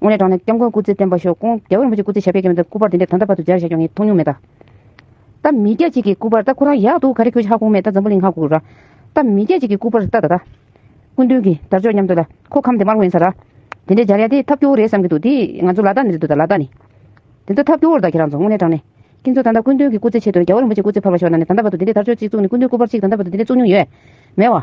དབུ་ནས་དྲངས་ནས་སྐྱབས་མགོན་སྐུ་ཚེ་བརྟན་པ་ཤོག་ཀུན་རྒྱལ་བོ་རིན་པོ་ཆེ་སྐུ་ཚེ་ཞབས་པད་ཀྱི་དོན་དུ་སྐུ་པར་འདི་འདྲ་དམ་དྲག་པར་དུ་སྦྱར་བཞག་ཀྱང་ངས་མཐོང་མྱོང་མེད། ད་མི་སྐྱ་གཅིག་གི་སྐུ་པར་ད་ཁོ་རང་ཡག་འདུག་ག་རེ་ཁྱོད་ཤག་ཁུག་མེད་ད་འཛམ་བུ་གླིང་ཧ་གུག་ར། ད་མི་སྐྱ་གཅིག་གི་སྐུ་པར་ད་ད་ད། སྐུ་མདུན་གྱི་དར་ཅོག་མཉམ་དུ་ལ་ཁོ་ཁམས་དེ་མར་དབེན་ས་ར། དེ་འདྲས་སྦྱར་ཡ་དེ་ཐབས་སྐྱོ་བོ་རེད་བསམ་གྱི་འདུག་དེ་ང་ཚོ་ལ་ད་ནི་རེད་འདུག་ད་ལ་ད་ནི། དེ་ཚོ་ཐབས་སྐྱོ་བོར་ད་ཁྱེད་རང་ཚོ་དབུ་ནས་དྲངས་ནས། ཁྱེད་ཚོ་ད་ད་སྐུ་མདུན་གྱི་སྐུ་ཚེ་ཆེད་དུ་རྒྱལ་བོ་རིན་པོ་ཆེ་སྐུ་ཚེ་ཕར་བ་ཤོག་ནང་ནས་ད་ད་བར་དུ་འདི་འདྲས་དར་ཅོག་གཅིག་བཙུགས་ནས་སྐུ་མདུན་སྐུ་པར་གཅིག་ད་ད་བར་དུ་འདི་འདྲས་བཙུགས་མྱོང་ཡོད། མེད་བ།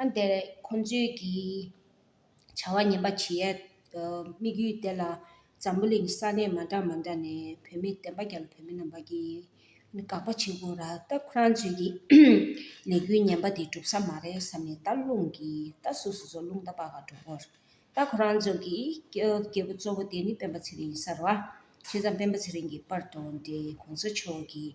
ཨ་འདི་རེད་ཁོང་ཚོས་ཀྱིས་བྱ་བ་ངན་པ་བྱེད་ཡས་དམིགས་ཡུལ་དེ་ལ་འཛམ་བུ་གླིང་ས་གནས་མ་འདྲ་མ་འདྲ་ནས་བོད་མི་བདེན་པ་རྒྱ་ལ་བོད་མི་རྣམ་པ་ཀྱིས་དགག་པ་བྱེད་དགོས་ར་ད་ཁོ་རང་ཚོས་ཀྱིས་ལས་འགུལ་ངན་པ་དེ་འགྲུབ་ས་མ་རེད་བསམ་ནས་ད་རླུང་གིས་ད་སུ་སུ་ཚོ་རླུང་ད་པ་ག་འགྲོ་དགོས་ར་ད་ཁོ་རང་ཚོ་ཀྱིས་རྒྱལ་བུ་གཙོ་བོ་དེ་ནི་སྤེན་པ་ཚེ་རིང་ཡིན་ས་ར་བ་བྱས་ཙང་སྤེན་པ་ཚེ་རིང་གི་པར་དོ་དེ་གོང་ས་མཆོག་གིས་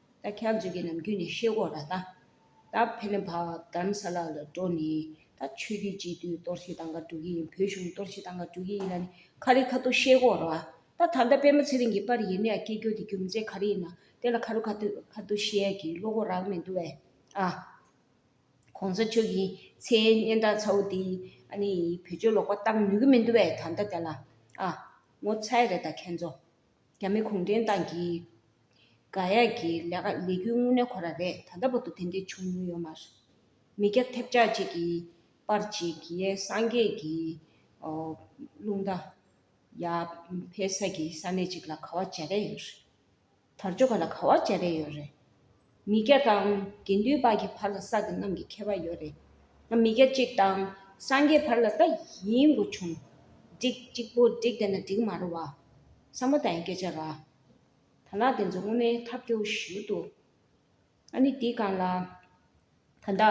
ད་ཁྱབ་འཇུག་གི་ནམ་རྒྱུན་ནས་ཤེས་དགོས་ར་ད། ད་ཕེ་ལེ་བྷ་གདམ་ས་ལ་ལ་འགྲོ་ནས་ད་ཆོས་རྒྱུད་སྤྱི་འཐུས་གཏོར་བཤིག་བཏང་ག་འགྲོ་གི་ཡིན་བོད་གཞུང་གཏོར་བཤིག་བཏང་ག་འགྲོ་གི་ཡིན་ལ་ནི་ཁ་རི་ཁ་ཐུག་ཤེས་དགོས་ར་ད། ད་ལྟ་པད་མ་ཚེ་རིང་གི་པར་ཡིན་ན་ཡང་སྐྱིད་རྒྱུ་དེ་རྒྱུ་མཚན་ག་རི་ཡིན་ན་དེ་ལ་ཁ་རུ་ཁ་ཐུག་ཁ་ཐུག་ཤེས་ཡ་གི་བློ་ཁོག་རག་མི་འདུག་བས་ཨ། གོང་ས་མཆོག་གི་མཚན་སྙན་གྲགས་ཚ་བོ་དེ་ཨ་ནི་བོད་ཆོས་ལོག་པ་བཏང་ནུས་གི་མི་འདུག་བས་ད་ལྟ་དེ་ལ་ཨ། ངོ་ཚ་ཡི་རེད་ད་ཁྱེད་ཚོ། རྒྱ་མི་གུང་ཁྲན་ཏང་གིས་དགག་དབྱེ་གྱི་ལས་ཀ་ལས་རྒྱུ་དངོས་གནས་ཁོ་ར་རེད་ད་ལྟ་བར་དུ་དེ་འདྲའི་བྱུང་མྱོང་ཡོད་མ་རེད། མི་སྐྱ་ཐེབས་ཆག་ཅིག་གིས་པར་ཅིག་གིས་ཡའི་སངས་རྒྱས་ཀྱི་རླུང་རྟ། ཡ་ཕེ་ས་ཀྱི་ས་གནས་ཅིག་ལ་ག་བ་བྱ་རེ་ཡོད་རེད། དར་ལྕོག་ག་ལ་ག་བ་བྱ་རེ་ཡོད་རེད། མི་སྐྱ་དང་དགེ་འདུན་དཔག་གི་བར་ལ་ས་དེ་རྣམས་ཀྱི་ཁྱད་པར་ཡོད་རེད། མི་སྐྱ་གཅིག་དང་སངས་རྒྱས་བར་ལ་ད་ཡིན་དགོས་བྱུང། འགྲིག་གཅིག་པོ་འགྲིག་བསྡད་ན་འགྲིག་མ་རེད་བ། ས་མོ་ད་ཡིན་སྐད་ཆ་ར། ད་ལག་དེ་ཚོ་དངོས་མའི་ཐབས་སྐྱོ་བོ་ཞུ་འདུག། ཨ་ནི་འདི་གང་ལ། ད་ལྟ།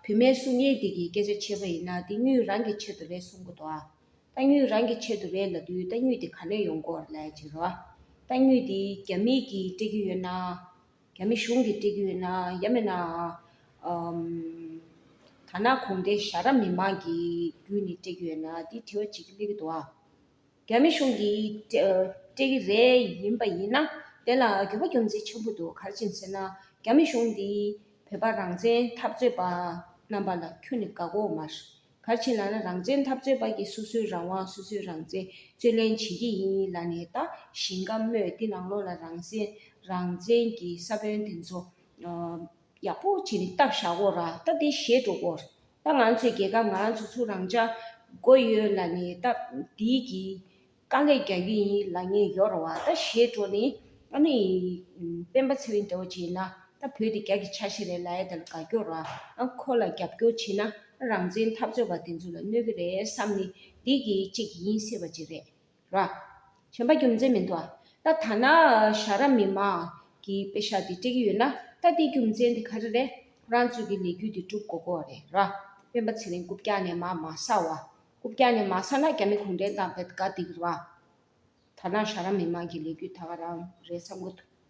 བུད་མེད་གསུང་ངན་འདི་གིས་སྐད་ཆ་འཆད་པ་ཡིན་ན་འདི་སྙུན་རང་གི་ཆེད་དུ་རེད་གསུང་གོ་ཐོག་ཨ། རྟ་སྙུན་རང་གི་ཆེད་དུ་རེད་ལབ་དུས་རྟ་སྙུན་དེ་ག་ནས་ཡོང་སྐོར་ལས་ཅི་རེད། རྟ་སྙུན་དེ་རྒྱ་མིས་ཀྱིས་སྤྲད་ཀྱི་ཡོད་ན། རྒྱ་མི་གཞུང་གིས་སྤྲད་ཀྱི་ཡོད་ན་ཡ་མེད་ནའང། ཐ་ན་གུང་ཁྲན་ཞྭ་ར་མི་མང་གིས་བརྒྱུད་ནས་སྤྲད་ཀྱི་ཡོད་ན་འདི་དྲི་བ་བྱེད་ཀྱི་སླེབས་ཡོད་དོ་ཨ། རྒྱ་མི་གཞུང་གིས་སྤྲད་ཀྱི་རེད་ཡིན་པ་ཡིན་ན་དེ་ལ་འགྱོད་པ་རྒྱུ་མཚན་ཆེན་པོ་འདུག་གར་ཕྱིན་ཟེར་ན་རྒྱ་མི་གཞུང་འདིས་བོད་པ་རང་བཙན་འཐབ་རྩོད་པ་རྣམ་པ་ལ་ཁྱོད་ནི་དགའ་གོ་མར། གར་ཕྱིན་ལ་ན་རང་བཙན་འཐབ་རྩོད་པ་གི་སོ་སོའི་རང་དབང་སོ་སོའི་རང་བཙན་རྩོད་ལེན་བྱེད་ཀྱི་ཡིན་ལ་ནས་ད་ཞིང་ཁ་རྨོས་འདི་ནང་ལོག་ལ་རང་བསྲན་རང་བཙན་གྱི་ས་བོན་དེ་ཚོ། ཡག་པོ་བྱིན་རྟགས་བཞག་གོ་ར་ད་དེ་བཞེས་འགྲོ་གོ་ར་ད་ང་ཚོའི་རྒྱལ་ཁབ་ང་ཚོ་ཚོ་རང་ཅག་དགོས་ཡོད་ལ་ནི་ད་འདིའི་གི་དཀའ་ལས་རྒྱག་གི་ཡིན་ལ་ངས་ཡོ་ར་བ་ད་བཞེས་འགྲོ་ནི་ཨ་ནི་སྤེན་པ་ཚེ་རིང་འདྲ་བོ་བྱིན་ན་ད་བོད་དེ་རྒྱ་གི་ཆ་ཤས་རེད་ལ་ཨེ་ད་ལ་དགའ་སྐྱོ་ར་ཨ་ཁོ་ལ་རྒྱབ་སྐྱོ་བྱིན་ན་རང་བཙན་འཐབ་རྩོད་པ་དེ་ཚོ་ལ་གནོད་གི་རེད་བསམ་ནི་འདི་གི་གཅིག་ཡིན་སྲིད་པ་ཅིག་རེད། ར། གཞོན་པ་རྒྱུ་མཚན་མི་འདུག་ཨ། ད་ཐ་ན་ཤ་ར་མི་མང་གིས་དཔེ་ཤ་དེ་སྤྲད་ཀྱི་ཡོད་ན་ད་དེའི་རྒྱུ་མཚན་དེ་ག་རེ་རེད། རང་ཚོད་ཀྱི་ལས་རྒྱུ་དེ་སྒྲུབ་དགོས་དགོས་རེད་ར། སྤེན་པ་ཚེ་རིང་རྐུབ་བཀྱག་ནས་མ་མ་ཟ་བ། རྐུབ་བཀྱག་ནས་མ་ཟ་ན་རྒྱ་མི་གུང་བྲན་དང་བེད་དགའ་འདིག་ར། ཐ་ན་ཤ་ར་མི་མང་གིས་ལས་རྒྱུ་ད་ག་རང་རེད་བསམ་གི་འདུག།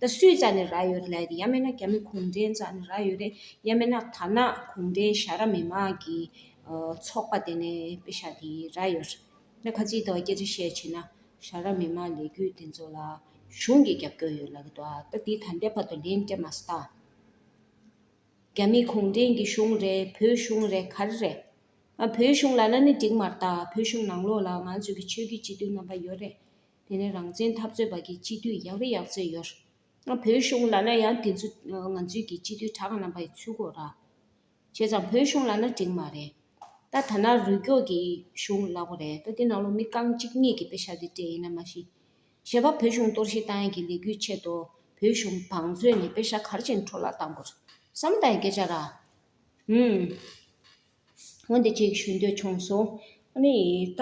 ད་སུའི་རྩ་ནས་རྭ་ཡོད་རེད་ཡ་མེད་ན་རྒྱ་མི་གུང་ཁྲན་རྩ་ནས་རྭ་ཡོད་རེད་ཡ་མེད་ན་དར་ནག་གུང་ཁྲན་ཤ་ར་མི་མང་གི་ཚོགས་པ་དེ་ནས་པེ་ཤ་དེ་རྭ་ཡོད་རེད་ད་ག་ཅིག་ད་སྐད་ཆ་བཤད་བྱེད་ན་ཤ་ར་མི་མང་ལས་རྒྱུད་དེ་ཚོ་ལ་གཞུང་གི་རྒྱབ་སྐྱོར་ཡོད་ལ་གི་འདུག་ད་དེ་ད་འདས་བར་དུ་ལན་སྤྲད་མ་སྟངས་རྒྱ་མི་གུང་ཁྲན་གྱི་གཞུང་རེད་བོད་གཞུང་རེད་ག་རེ་རེད་ང་བོད་གཞུང་ལ་ལ་ནི་འགྲིག་མ་ལྟ་བོད་གཞུང་ནང་ལོགས་ལ་ང་ཚོ་གི་ཆོས་རྒྱུད་སྤྱི་མཐུན་རྣམ་པ་ཡོད་རེད། དེ་ནས་རང་བཙན་འཐབ་རྩོད་པ་གི་སྤྱི་འཐུས་ཡག་རེ་ཡག་བཙལ་ཡོད། བོད་གཞུང་ལ་ན་ཡང་དེ་ཚོ་ང་ཚོའི་གི་སྤྱི་འཐུས་གྲགས་རྣམ་པ་ཡི་ཚུལ་གོ་ར། བྱས་ཙང་བོད་གཞུང་ལ་ན་དྲིང་མ་རེད། ད་ཐ་ན་རུལ་སྐྱོག་གི་གཞུང་ལག་པོ་རེད་ད་དེ་ནང་ལོ་མི་རྐང་གཅིག་གཉིས་གི་པེ་ཤ་དེ་དྲེད་ཡིན་ན་མ་ཤི། བྱས་པ་བོད་གཞུང་གཏོར་བཤིག་བཏང་ཡན་གི་ལས་གུས་ཆེད་དོ་བོད་གཞུང་བང་མཛོད་ནས་པེ་ཤ་གར་ཅིང་འཕྲོ་བརླག་བཏང་དགོས་ར། བསམ་བཏང་ཡན་སྐད་ཆ་ར། ཧུམ། འོན་ཏེ་ཅིག་ཞུ་འདོད་བྱུང་གསུངས། ཨཱ་ནི་ད།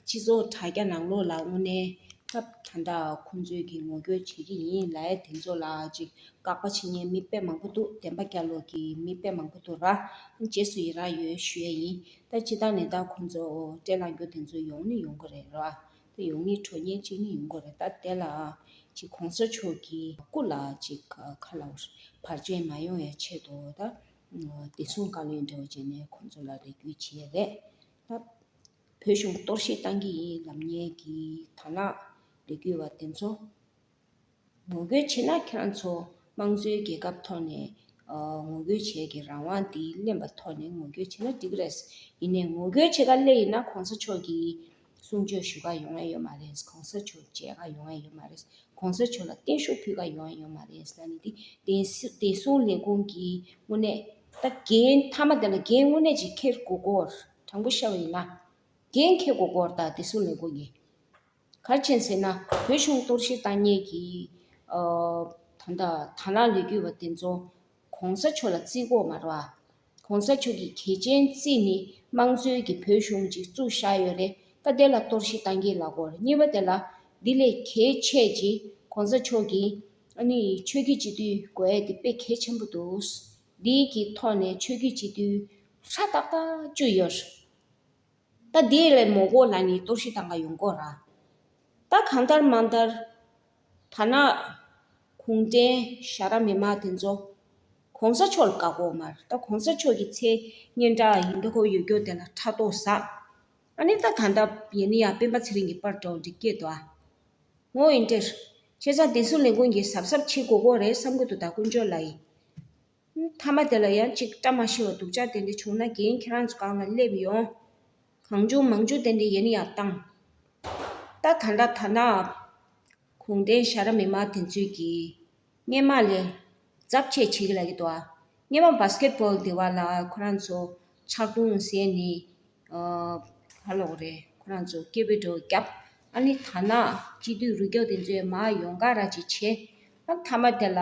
སྤྱི་ཚོགས་དྲ་རྒྱ་ནང་ལོགས་ལ་དངོས་གནས་སྐབས་ད་དག་ཁོང་ཚོས་ཀྱིས་ངོ་རྒོལ་བྱེད་ཀྱི་ཡིན་ལ་དེ་ཚོ་ལ་ཅིག་དགག་པ་བྱེད་ཉན་མི་དཔེ་མང་པོ་འདུག་བདེན་པ་བསྐྱར་ཀློག་གིས་མི་དཔེ་མང་པོ་འདུག་ར། རྗེས་སུ་ཡི་རངས་ཡོད་ཞུ་ཡས་ཡིན། ད་ཅི་ད་ནས་ད་ཁོང་ཚོ་སྤྲེལ་ལངས་རྒྱུ་དེ་ཚོ་ཡོང་ནི་ཡོང་གི་རེད་ར། དེ་ཡོང་མིའི་ཁྲོད་ཉེས་གཅིག་ནི་ཡོང་དགོས་རེད་ད་དེ་ལ་ཅིག་གོང་ས་མཆོག་གི་སྐུ་ལ་ཅིག་ཁ་ལ་བར་ཆད་མ་ཡོང་བའི་ཆེད་དུ་ད་བདེ་སྲུང་བཀའ་བློན་འདྲ་བོ་བྱས་ནས་ཁོང་ཚོ་ལ་རེ་སྐུལ་བྱས་རེད་ད། བོད་གཞུང་གཏོར་བཤིག་བཏང་གི་ཡིན་ལབ་ཉེས་ཀྱི་ད་ལགས་རེ་སྐུལ་བ་དེ་ཚོ། ངོ་རྒོལ་བྱེད་ན་ཁྱོད་ཚོ་དམངས་གཙོའི་རྒྱལ་ཁབ་ཐོག་ནས་ངོ་རྒོལ་བྱས་ཀྱི་རང་དབང་འདི་གླེང་བ་ཐོག་ནས་ངོ་རྒོལ་བྱས་ན་འགྲིག་རེད། ཡིན་ནས་ངོ་རྒོལ་བྱེད་ཀ་སླེ་ཡིན་ན་གོང་ས་མཆོག་གིས་གསུང་ཆོས་ཞུ་ཀ་ཡོང་ཨེ་ཡོད་མ་རེད། གོང་ས་མཆོག་མཇལ་ཀ་ཡོང་ཨེ་ཡོད་མ་རེད། གོང་ས་མཆོག་ལ་བརྟན་བཞུགས་ཕུལ་ཀ་ཡོང་ཨེ་ཡོད་མ་རེད་ཟེར་ན་ནི་འདི་བདེ་སྲུང་ལས་ཁུངས་ཀྱི་དངོས་གནས་ད་རྒན་མཐའ་མ་དེ་ལ་རྒན་དངོས་གནས་ཅིག་འཁེལ་དགོས་སྐོར་དྲང་པོ་བཤད་པ་ཡིན་ན། རྒན་འཁེལ་དགོས་སྐོར་ད་བདེ་སྲུང་ལས་ཁུངས་ཀྱི། གར་ཆེན་ཟེར་ན་བོད་གཞུང་གཏོར་བཤིག་བཏང་ཉེས་ཀྱི་ད་ལྟ་དྭང་བླངས་ལས་འགུལ་བ་དེ་ཚོ་གོང་ས་མཆོག་ལ་རྩིས་འགོག་མ་རུ་ཨ། གོང་ས་མཆོག་གི་གལ་ཆེན་རྩིས་ནི་དམངས་གཙོའི་གི་བོད་གཞུང་ཅིག་བཙུགས་བཞག་ཡོད་རེད་ད་དེ་ལ་གཏོར་བཤིག་བཏང་གི་ལ་གོ་གཉིས་པ་དེ་ལ་དེ་ལས་གལ་ཆེ་གི་གོང་ས་མཆོག་གི་ཨ་ནི་ཆོས་རྒྱུད་སྤྱི་འཐུས་དགོས་འེ་དེ་དཔེ་གལ་ཆེན་པོ་འདུག་འདི་གི་ཐོག་ནས་ཆོས་རྒྱུད་སྤྱི་འཐུས་ཧྲ་ཏག་ཏག་བཅུ་ཡོད། ད་དེ་ལས་མོ་གོ་ལ་ནི་གཏོར་ཤི་དང་ག་ཡོང་གོ་ར། ད་གང་ལྟར་མ་ལྟར། ཐ་ན། གུང་བྲན་ཞྭ་ར་མི་དམངས་དེ་ཚོ། གོང་ས་མཆོག་ལ་བཀའ་བསྒོ་མར་ད་གོང་ས་མཆོག་གི་མཚན་སྙན་གྲགས་ཡིན་འདོ་ཁོ་ཡོད་སྐྱོ་དེ་ལ་ཕྲག་དོག་བཟའ། ཨ་ནི་ད་གང་ལྟར་ཡིན་ནི་ཡང་སྤེན་པ་ཚེ་རིང་གི་པར་གྲོགས་འདྲི་སྐད་དོ་ཨ། ངོ་ཨིན་ཏེ། ཁྱེད་ཚང་དེ་སུ་ལས་མགོན་གྱི་ཟབ་ཟབ་ཕྱི་གོ་གོ་རེད་བསམ་གོ་ཏོ་ད་དཀོན་མཆོག་ལ་ཡི། མཐའ་མ་དེ་ལ་ཡང་ཅིག་བཀྲ་མ་ཤིས་བ་སྡུག་ཅག་དེ་འདྲ་བྱུང་ན་རྒན་ཁྱེད་རང་ཚོ་གང་ལ་སླེབས་ཡོང། གང་བྱུང་མང་བྱུང་དེ་འདྲ་ཡིན་ཡང་བཏང། ད་ད་འདྲ་ད་ནའང། གུང་བྲན་ཤ་ར་མི་མ་དེ་ཚོས་ཀྱིས། སྙེ་མ་ལས། རྫབ་བཅས་བྱེད་ཀྱི་ལ་གི་དོ་ཨ། སྙེ་མ Basket Ball དེ་བ་ལ་ཁོ་རང་ཚོ། ཕྱག་དུང་ཟས་ནི། བ་ལོག་རེད་ཁོ་རང་ཚོ་སྐད་པོད་དྲོ་རྒྱབ། ཨ་ནི་ད་ནའང་སྤྱི་འཐུས་རུ་སྐྱོག་དེ་ཚོས་མ་ཡོང་ག་ར་ཅིག་བྱེད། ཨ་མཐའ་མ་དེ་ལ།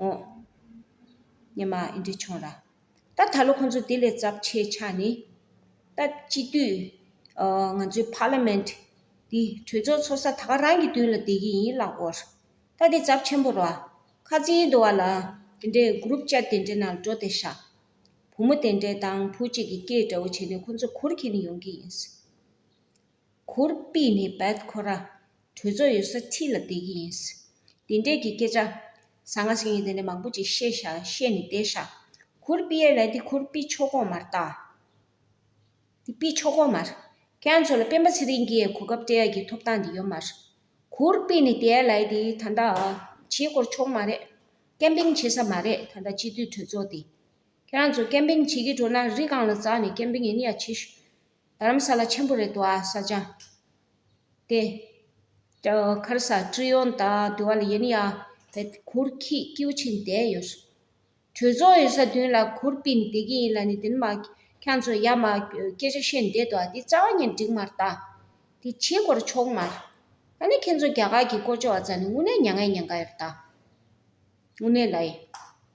འོ། ཉི་མ་ཨི་འདྲས་བྱུང་ར། ད་ད་ལོ་ཁོང་ཚོ་དེ་ལས་ཚབས་ཆེ་ཆགས་ནི། ད་སྤྱི་འཐུས། ང་ཚོའི Parliament། འདི་གྲོས་ཚོགས་ཚོགས་ས་ད་ག་རང་གི་མདུན་ལ་བསྡད་ཀྱི་ཡིན་ལགས་འོ། ད་དེ་ཚབས་ཆེན་པོ་ར། ཁ་རྩིས་འདུ་བ་ལ། དེ་འདྲའི Group Chat དེ་འདྲའི་ནང་འགྲོ་དེ་ཤག། བུ་མོ་དེ་འདྲའི་དང་བུ་གཅིག་གི་སྐད་འདྲ་བོ་བྱས་ནས་ཁོང་ཚོ་གུར་འཁྱེར་ནས་ཡོང་གི་ཡིན། གུར་སྤིས་ནི་བད་ཁོ་ར། གྲོས་ཚོགས་ཡོད་ས་ཁྲི་ལ་བསྡད་ཀྱི་ཡིན། འདི་འདྲས་ཀྱི་སྐད་ཆ། ཟ་ང་ཟིག་ཡིན་དེ་འདྲས་མང་པོ་ཅིག་བཤད་ཤག་བཤད་ནས་བསྡད་ཤག། གུར་པི་ཡའི་ལས་འདི་གུར་པི་མཆོག་གོང་མར་བཏགས། འདི་པི་མཆོག་གོང་མར། ཁྱེད་ཚོ་ལ་སྤེན་པ་ཚེ་རིང་གིས་གོ་སྐབས་སྤྲད་ཡག་གི་ཐོབ་ཐང་དེ་ཡོད་མ་རེད། གུར་པི་ནི་དེའི་ལས་དེ་ད་ལྟ། བྱེད་དགོར་ཆོག་མ་རེད། ཀེམ་པིང་བྱེད་ས་མ་རེད་ད་ལྟ་སྤྱི་འཐུས་གྲོས་ཚོགས་དེ། ཁྱེད་རང་ཚོ་ཀེམ་པིང་བྱེད་ཀྱི་འགྲོ་ན་རི་སྒང་ལ་འཛག་ནས་ཀེམ་པིང་ཡིན་ཡག་བྱེད། དྷརྨ་ས་ལ་ཆེན་པོ་རེད་དོ་ཨ་ས་ཅང། ཏེ། ཁར་ས་ཀྲི་ཡོན་ད་དུ་བ་ལ་ཡེ་ནི་ཡ། བེ། གུར་ཁི་ཀིའུ་ཆིན་དེ་ཡོད་སོ། གྲོས་ཚོགས་ཡོད་ས་བདུན་ལ་གུར་པིན་བདེ་ཀི་ཡིན་ལ་ནི་དེ་ནི་མ། ཁྱང་ཚོ་ཡ་མ། སྐད་ཆ་བཤད་འདེད་དོ་ཨ་དེ་རྩ་བ་ཉིན་འགྲིག་མར་ད། དེ་ཆེ་གོར་ཆོག་མར། ད་ནི་ཁྱེད་ཚོ་རྒྱ་གར་གི་ཀོ་ཅོ་བ་ཙ་ནི་དངུ་ནེ་ཉ་ངའི་ཉན་ག་ཡོད་ད། དངུ་ནེ་ལ་ཡི།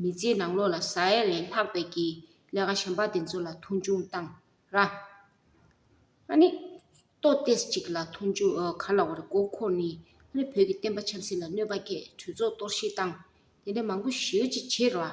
མི་ཚེའི་ནང་ལོགས་ལ་ཟ་ཡ་ལས་ལྷག་པའི་ཀྱི་ལས་ཀ་གཞན་པ་དེ་ཚོ་ལ་མཐོང་ཆུང་བཏང་ར། ཨ་ནི། ལྟོ་ལྟས་ཅིག་ལ་མཐོང་ཆུང་འོས་ག་ལ་བ་རེད་མགོ་འཁོར་ནི། ཨ་ནི་བོད་ཀྱི་བསྟན་པ་ཆབ་སྲིད་ལ་གནོད་པ་སྐྱེད་གྲོས་ཚོགས་གཏོར་བཤིག་བཏང། དེ་འདྲ་མང་པོ་ཞེའུ་ཅིག་བྱེད་ར།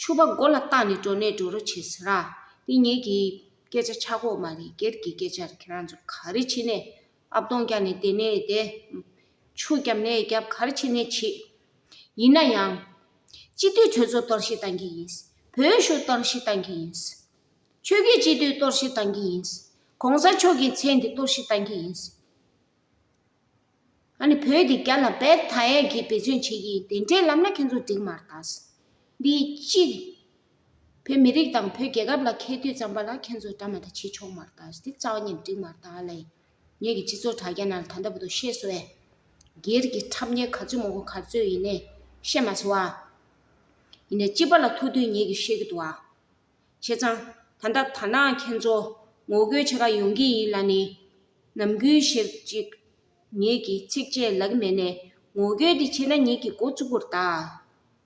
ཕྱུ་པ་མགོ་ལ་བཏགས་ནས་འགྲོ་ནས་འགྲོ་རུ་ཆས་ཟེར་ར། འདི་ངེད་ཀྱི་སྐད་ཆ་ཆག་གོ་མ་རེད་སྒེར་གྱི་སྐད་ཆར་ཁྱེད་རང་ཚོ་ག་རེ་བྱེད་ནས་ཨ་བཏོང་རྒྱག་ནས་བསྡད་ནས་བསྡད། ཆུ་རྒྱབ་ནས་རྒྱབ་ག་རེ་བྱེད་ནས་བྱེད། ཡིན་ན་ཡང། སྤྱི་མཐུས་ཁྱོད་ཚོ་གཏོར་བཤིག་བཏང་གི་ཡིན། བོད་གཞུང་གཏོར་བཤིག་བཏང་གི་ཡིན། ཆོས་རྒྱུད་སྤྱི་མཐུས་གཏོར་བཤིག་བཏང་གི་ཡིན། གོང་ས་མཆོག་གི་མཚན་དེ་གཏོར་བཤིག་བཏང་གི་ཡིན། ཨ་ནི་བོད་དེ་རྒྱ་ལ་བལ་ད་ཡས་ཀྱིས་བེད་སྤྱོད་བྱེད་ཀྱི་དེ་འདྲའི་ལམ་ན་ཁྱེད་ཚོ་འགྲིག་མར་ད། འདི་སྤྱི་བོད་མི་རིགས་དང་བོད་རྒྱལ་ཁབ་ལ་ཁེལ་དུས་ཙམ་པ་ལ་ཁྱེད་ཚོ་འདྲ་མ་ད་བྱེད་ཆོག་མར་ད་འདི་རྩ་བ་ཉིད་འགྲིག་མར་ད་ལས། ངེད་ཀྱི་སྤྱི་ཚོགས་དྲ་རྒྱ་ནང་ད་ལྟ་བུ་དུ་ཤེས་བཟོ་བས། སྒེར་གྱི་ཁྲབ་གཉེར་ག་ཚོད་མང་པོ་ག་ཚོད་ཡིན་ནས་བཤད་མ་བྱེད་བ། ཡིན་ནས་སྤྱི་པ་ལ་ཐུག་དུས་ངེད་ཀྱིས་ཤེས་ཀྱི་འདུག་བ། བྱས་ཙང། ད་ལྟ་ད་ནངས་ཁྱེད་ཚོ་ངོ་རྒོལ་བྱེད་ཁ་ཡོང་གི་ཡིན་ལ་ནི། ནམ་རྒྱུན་བཤད་ཅིག། ངེད་ཀྱིས་ཚིགས་བཅད་ལག་མེད་ནས་ངོ་རྒོལ་འདི་བྱས་ན་ངེད་ཀྱི་མགོ་བཙུགས་པོར་གདའ།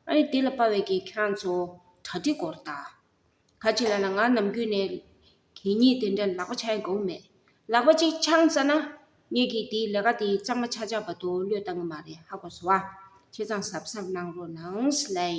ཨ་རི་དེ་ལ་དཔའ་བའི་གི་ཁྱེད་རང་ཚོ་གྲ་སྒྲིག་གོར་གདའ། ག་ཅིག་ལ་ལ་ང་ནམ་རྒྱུན་ནས་གད་སྙིགས་དེ་འདྲ་ལག་པ་འཆང་ཡི་དགོངས་མེད། ལག་པ་ཅིག་འཆང་ཙ་ན། ངེད་ཀྱིས་དེའི་ལས་ཀ་དེ་གཙང་མ་ཆག་ཆག་བ་དོ་བློས་བཏང་གི་མ་རེད་ཧ་གོ་སོ། བྱས་ཙང་ཟབ་ཟབ་གནང་རོགས་གནང།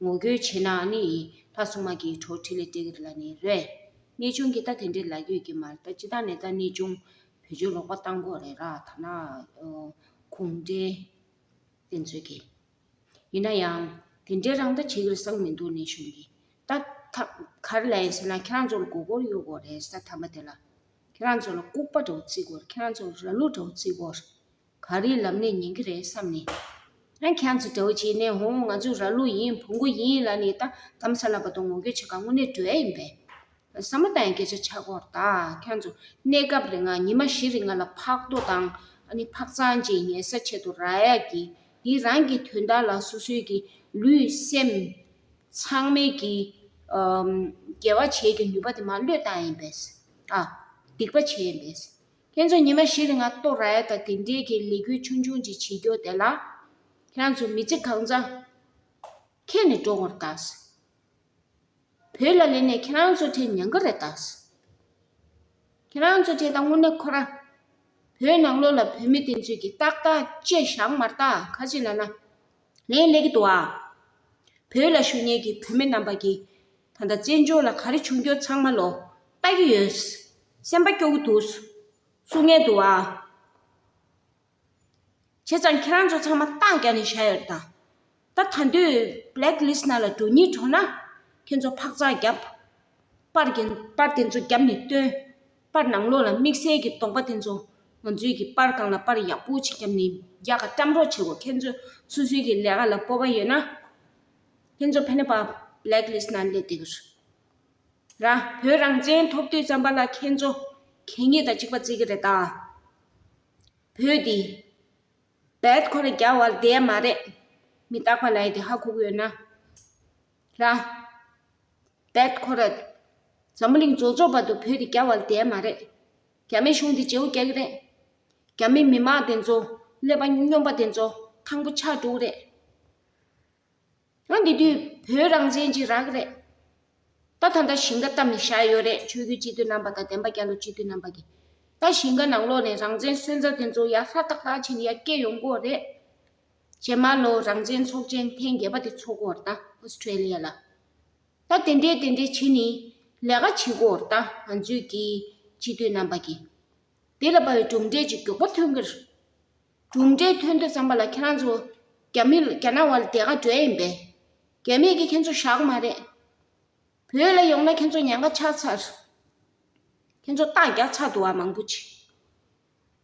ངོ་རྒོལ་བྱས་ན་ནི་ལྷ་སྲུང་མ་གིས་གྲོགས་ཁྲི་ལས་སྤྲད་གི་ལ་ནི་རེད། གནས་ཆུང་གི་ད་དེ་འདྲའི་ལ་ཡོད་ཀྱི་མ་རེད་ད་ཅི་ད་ནས་ད་གནས་ཆུང་བོད་ཆོལ་ལོག་པ་གཏང་དགོས་རེད་ར་ཐ་ན་གུང་ཁྲན་བཙན་འཛུལ་གྱི། ཡིན་ན་ཡང་དེ་འདྲའི་རང་ལྟ་བྱེད་གི་རེད་བསམ་མི་འདུག་གནས་ཆུང་གི་ད་གར་ལ་ཡིན་ཟེར་ན་ཁྱེད་རང་ཚོ་ལ་མགོ་སྐོར་ཡོད་དགོས་རེད་ས་དམ་པ་དེ་ལ། ཁྱེད་རང་ཚོ་ལ་ལྐུགས་པ་འདྲ་བོ་བརྩི་དགོས་རེད་ཁྱེད་རང་ཚོ་ལ་ར་ལུག་འདྲ་བོ་བརྩི་དགོས་རེད། ག་རེའི་ལམ་ནས་ཉན་གྱི་རེད་བསམ་ནས། ཨ་ཁྱེད་ཚོ་དགྲ་བོ་བྱས་ནས་ཧོ་ང་ཚོ་ར་ལུག་ཡིན་བུ་མགོ་ཡིན་ལ་ནི་ད་གཏམ་ས་ལ་བ་དང་ངོ་རྒྱོ་བྱེད་ག་དངོས་གནས་གྲོལ་ཡིན་པས། ས་མ་ཏའི་སྐད་ཆ་ཆ་སྒོར་ད་ཁྱོད་ཚོ་གནས་སྐབས་རེ་ང་ཉི་མ་བཞི་རེ་ང་ལ་ཕག་རྡོ་དང་ཨ་ནི་ཕག་ཚང་གཅིག་ཉལ་ས་ཆེད་དུ་ར་ཡག་གི་འདི་རང་གི་དོན་དག་ལ་སོ་སོའི་གི་ལུས་སེམས་ཚང་མའི་གི་རྒྱལ་བ་བྱེད་ཀྱི་ནུས་པ་དེ་མ་བློས་བཏང་ཡིན་པས། ཨ། སྡིག་པ་བྱས་ཡིན་པས། ཁྱེད་ཚོ་ཉི་མ་བཞི་རེ་ང་ཏོ་ར་ཡ་དང་དེ་འབྲེལ་གྱི་ལས་འགུལ་ཆུང་ཆུང་ཅིག་བྱེད་རྒྱུ་དེ་ལ། ཁྱེད་ཚོ་མི་ཚེ་གང་བཟང། ཁེ་ནས་འགྲོ་ངོར་གདའ། བོད་ལ་ལས་ནས་ཁྱེད་རང་ཚོ་ཁྲེལ་ཉན་ག་རེ་གདའ། ཁྱེད་རང་ཚོ་དེ་དང་དངོས་གནས་ཁོ་ར། བོད་ནང་ལོ་ལ་བོད་མི་དེ་ཚོས་ཀྱི་ཏག་ཏག་ཅེས་ཞག་མར་ཏག་ཁ་ཅིག་ལ་ན། ངས་ལེགས་འདུག་ཨ། བོད་ལ་ཞུ་ཉེན་གྱི་བོད་མི་རྣམ་པ་གྱིས་ད་ལྟ་བཙན་བྱོལ་ལ་ག་རེ་བྱུང་འགྱོ་ཚང་མ་ལོ་ལྟ་གི་ཡོད། སེམས་པ་སྐྱོ་གི་འདུག་བསུ་ངེས་འདུག་ཨ། བྱས་ཙང་ཁྱེད་རང་ཚོ་ཚང་མ་རྟགས་རྒྱག་ནས་བཞག་ཡོད་རེད་ད། ད་ད་དུས Black List ནང་ལ་འགྲོ་ཉེན་བྱུང་ན་ཁྱེད་ཚོ་འཕག་འཚག་རྒྱབ། པར་དེ་ཚོ་རྒྱབ་ནས་སྟོན། པར་ནང་ལོགས་ལ་དམིགས་བསལ་གྱི་དོགས་པ་དེ་ཚོ་ང་ཚོས་ཀྱི་པར་ཁང་ལ་པར་ཡག་པོ་ཆེ་རྒྱབ་ནས་རྒྱག་ག་སྐྲམ་རོགས་བྱེད་གོ་ཁྱེད་ཚོ་སུ་སུའི་གྱི་ལས་ཀ་ལ་སྤོབས་པ་ཡོད་ན་ཁྱེད་ཚོ་ཕན་ནེ་པར Black List ན་སླེབས་དེ་གི་ར་བོད་རང་བཙན་ཐོབ་དུས་རྩམ་པ་ལ་ཁྱེད་ཚོ་གད་སྙིགས་དང་གཅིག་པ་བརྩི་གི་རེད་ད་བོད་དེ Bad ཁོ་ལ་རྒྱ་བར་བསྡད་མ་རེད་མི་རྟག་པ་ལ་ཡི་དེ་ཧ་ཁུག་ཡོད་ན། རང། That correct། འཛམ་བུ་གླིང་རྫོགས་རྫོགས་བར་དུ་བོད་འདི་རྒྱ་བར་འདས་མ་རེད། རྒྱ་མི་གཞུང་འདི་བྱེའུ་སྐྱག་རེད། རྒྱ་མི་མི་དམངས་དེ་ཚོ་ཀླད་པ་སྨྱོན་པ་དེ་ཚོ་ཐང་པོ་ཕྱག་དྲུག་རེད། ཡང་འདི་དུས་བོད་རང་བཙན་གྱི་རག་རེད། ད་ད་ད་ཞིང་ཀ་ལྟ་མི་ཤ་ཡོད་རེད་ཆོས་རྒྱུད་སྤྱི་འཐུས་རྣམ་པ་དང་བདེན་པ་རྒྱ་ལོ་སྤྱི་འཐུས་རྣམ་པ་གི། ད་ཞིང་ཀ་ནང་ལོག་ནས་རང་བཙན་སོན་རྩ་དེ་ཚོ་ཡར་ཧྲ་ཏག་ཏག་བྱས་ནས་ཡར་སྐྱེད་ཡོང་དགོས་རེད། བྱེ་མ་ལོ་རང་བཙན་ཚོགས་ཆེན་ཐེངས་བརྒྱད་པ་དེ་འཚོགས་སྐོར་དང Australia ལ་ད་དེ་འདྲས་དེ་འདྲས་བྱེད་ནི་ལས་ཀ་བྱེད་སྐོར་དང་ང་ཚོས་ཀྱིས་སྤྱི་མཐུས་རྣམ་པ་ཀྱིས་དེ་ལ་བའི་གྲུབ་འབྲས་ཀྱི་མགྱོགས་པོ་ཐོན་སྐོར་གྲུབ་འབྲས་ཐོན་འདོད་བསམ་པ་ལ་ཁྱེད་རང་ཚོ་རྒྱ་མི་རྒྱ་ནག་བ་ལ་དེ་ག་འདྲས་ཡིན་པས་རྒྱ་མི་གིས་ཁྱེད་ཚོ་ཞག་མ་རེད་བོད་ལ་ཡོང་ན་ཁྱེད་ཚོ་ཉེན་ཁ་ཆགས་ཚར་ཁྱེད་ཚོ་རྟགས་རྒྱག་ཚར་འདུག་བ་མང་པོ་བྱེད།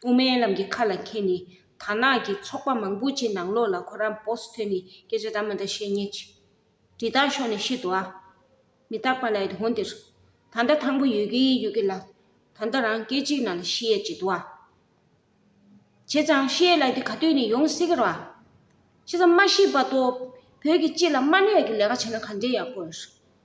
དབུ་མའི་ལམ་གྱི་ཁ་ལ་མཁས་ནས་དར་ནག་གི་ཚོགས་པ་མང་པོ་ཆེ་ནང་ལོགས་ལ་ཁོ་རང་བོགས་སུ་ཐོན་ནས་སྐད་ཆ་དག་མི་འདྲ་བཤད་ཉེས། དྲི་རྟགས་ཤོར་ནས་ཤི་འདུག་ཨ། མི་རྟག་པ་ལས་དོན་འདིར། ད་ལྟ་ཐང་པོ་ཡོད་ཀི་ཡོད་ཀི་ལ། ད་ལྟ་རང་སྐད་གཅིག་ནང་ལ་ཤི་ཡས་ཅི་འདུག་ཨ། བྱས་ཙང་ཤི་ཡས་ལ་དེ་ག་དུས་ནས་ཡོང་སྲིད་ཀི་རོ་ཨ། བྱས་ཙང་མ་ཤི་བར་དུ་བོད་ཀྱི་སྤྱི་ལ་དམའ་གནས་ཀྱི་ལས་ཀ་བྱས་ན་ག་འདྲའི་ཡག་པོ་རེད།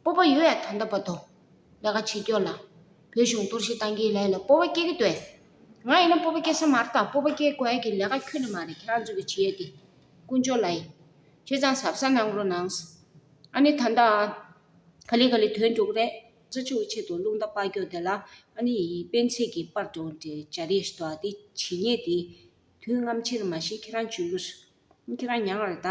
སྤོབས་པ་ཡོད་ཡ་ད་འདོད་པ་འདོད། ལས་ཀ་བྱེད་སྐྱོ་ལ། བོད་གཞུང་གཏོར་བཤིག་བཏང་གི་ལས་ལ་སྤོབས་པ་སྐྱེ་གི་འདོད། ང་ཡིན་ན་སྤོབས་པ་སྐྱེ་ས་མ་རེད་ད་སྤོབས་པ་སྐྱེ་དགོས་ཡ་གི་ལས་ཀ་ཁྱོད་ནས་མ་རེད་ཁྱེད་རང་ཚོ་གི་བྱེད་ཡ་གི། ཀུན་སྤྱོད་ལ་ཡིན། ཁྱེད་ཚང་ཟབ་ས་གནང་རོགས་གནང། ཨ་ནི་ད་ལྟ། ག་ལི་ག་ལི་དོན་འགྲུག་རེད། རྩ་ཆུ་བོ་ཆེད་དུ་རླུང་རྟ་དཔའ་སྐྱོ་དེ་ལ་ཨ་ནི་ཡིན་སྤེན་ཚེ་གི་དཔར་སྒྲོན་དེ་བྱ་རེད་ཞེ་དོག་དེ་བྱེད་ཉེས་དེ། དུས་རྔམ་ཆེར་མ་ཤེས་ཁྱེད་རང་བྱོས་གུས། ཁྱེད་རང་ཉང་རེད་ད།